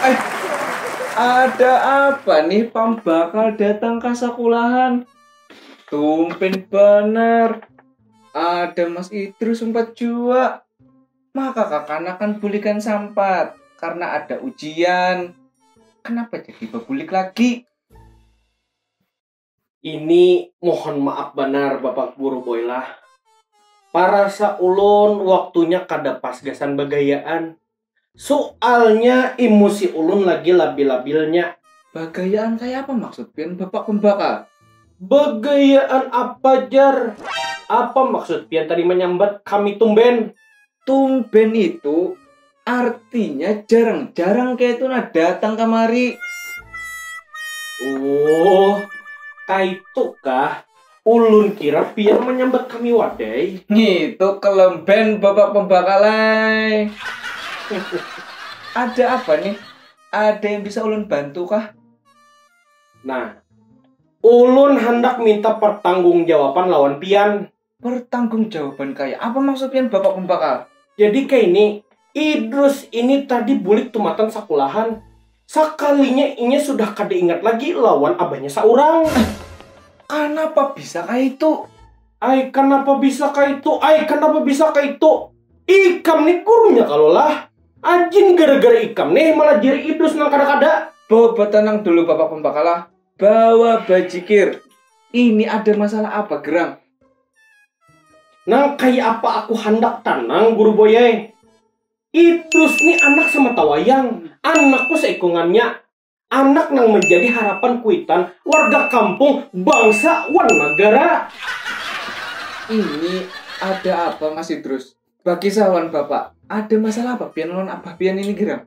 Eh, ada apa nih pambakal datang ke sekolahan? Tumpen bener. Ada Mas Idrus sempat jua. Maka kakanakan bulikan sampat karena ada ujian. Kenapa jadi bebulik lagi? Ini mohon maaf banar bapak guru boy lah. Parasa ulun waktunya kada pas gasan bagayaan. Sualnya imusi ulun lagi labil-labilnya. Bagayaan kaya apa maksud pian bapak pambakal? Bagayaan apa jar? Apa maksud pian tadi manyambat kami tumben? Tumben itu artinya jarang-jarang kayak itu nah datang kamari. Oh, kaitukah? Ulun kira pian menyambat kami wadai. Itu kelemben bapak pembakalai. Ada apa nih? Ada yang bisa ulun bantu kah? Nah, ulun handak minta pertanggungjawaban lawan pian. Pertanggung jawaban kaya apa maksud pian bapak pembakal? Jadi kaini, Idrus ini tadi bulik tumatan sakulahan, sakalinya inya sudah kada ingat lagi lawan abahnya saurang. Ai, kanapa bisa kaitu? Ai, kanapa bisa kaitu? Ai, kanapa bisa kaitu? Ikam nih gurunya kalo lah? Ajin gara-gara ikam nih malajari Idrus nang kada-kada. Bawa batanang dulu bapak pembakal ah. Bawa bajikir. Ini ada masalah apa, Gerang? Nang kaya apa aku handak tanang, Guru Boy ai. Idrus ni anak samata wayang, anakku saikungannya. Anak nang manjadi harapan kuitan warga kampung, bangsa, wan nagara. Ini ada apa, Mas Idrus? Bakisah wan Bapak. Ada masalah apa pian lawan abah pian ini, Gerang?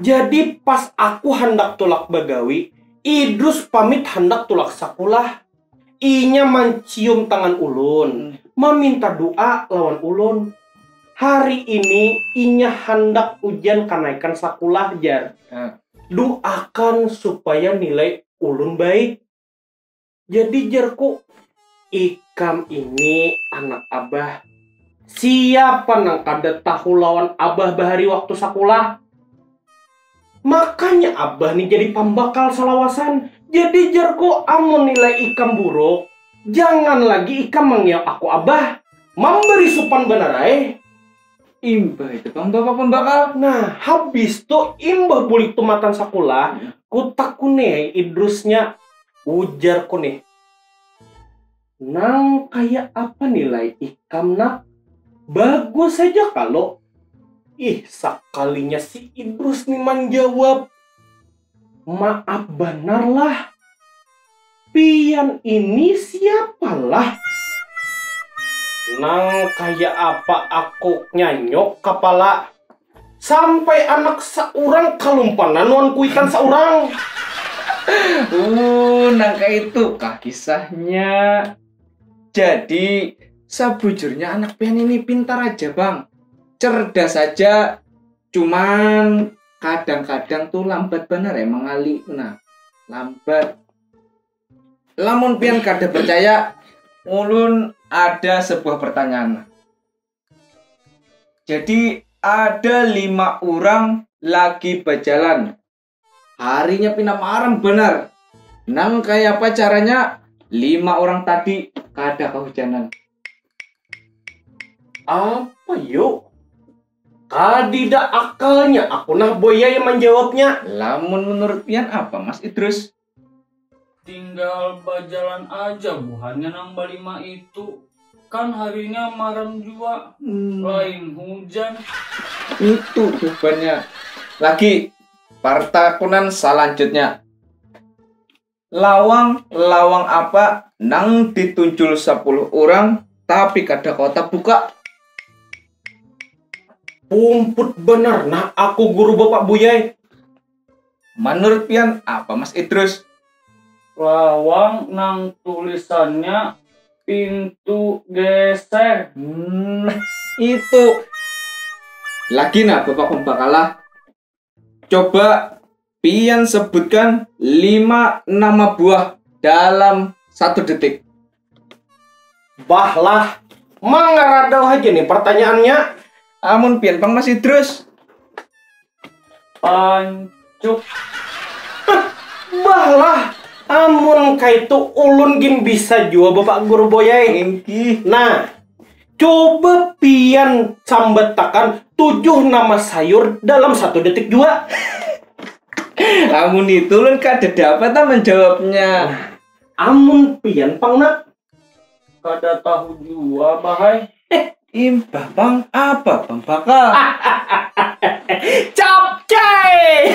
Jadi pas aku handak tulak bagawi, Idrus pamit handak tulak sakulah. Inya mancium tangan ulun, maminta du'a lawan ulun. Hari ini inya handak ujian kanaikan sakulah jar. Du'akan supaya nilai ulun baik. Jadi jerku, ikam ini anak abah, siapa nang kada tahu lawan abah bahari waktu sakulah. Makanya abah ni jadi pambakal salawasan. Jadi jerku amun nilai ikam buruk, jangan lagi ikam mangiau aku abah. Mambari supan banar ai. Imbah itu pang bapak pembakal. Nah, habis tu imbah bulik tumatan sakulah, kutakuni ai Idrusnya, ujarku nih. Nang kaya apa nilai ikam nak? Bagus haja kalo? Ih, sakalinya si Idrus nih manjawab. Maap banar lah. Pian ini siapa lah? Nang kaya apa aku nyanyuk kapala. Sampai anak saurang kalumpanan wan kuitan saurang. Uh, nang kaitu kah kisahnya. Jadi, sabujurnya anak pian ini pintar aja bang. Cerdas aja. cuman kadang-kadang tuh lambat bener ya mengalir nah lambat lamun pian kada percaya ulun ada sebuah pertanyaan jadi ada lima orang lagi berjalan Harinya pina maram banar. Nang kaya apa caranya lima orang tadi kada kahujanan. Apa yo? Kadida akalnya aku nah boyai manjawabnya. Lamun menurut pian apa Mas Idrus? Tinggal bajalan aja buhannya nang balima itu. Kan harinya maram jua, hmm. lain hujan. Itu jawabannya. Lagi, partakunan selanjutnya. Lawang, lawang apa nang ditunjul sepuluh orang tapi kada kota buka? Pumput bener, nah aku guru bapak buyai. Manurut pian apa Mas Idrus? Lawang nang tulisannya pintu geser. Hmm, itu. Lagi nah Bapak Pembakalah. Coba pian sebutkan lima nama buah dalam satu detik. Bah lah, mangaradau haja nih pertanyaannya. Amun pian pang masih terus. Pancuk. Bah lah, amun kaitu ulun gin bisa jua Bapak Guru Boyai. Engki. Nah, coba pian sambatakan tujuh nama sayur dalam satu detik jua. Amun itu ulun kada dapat ah menjawabnya. Amun pian pang nak. Kada tahu jua bah ai. Impah pang apa pang bakal. Capcay.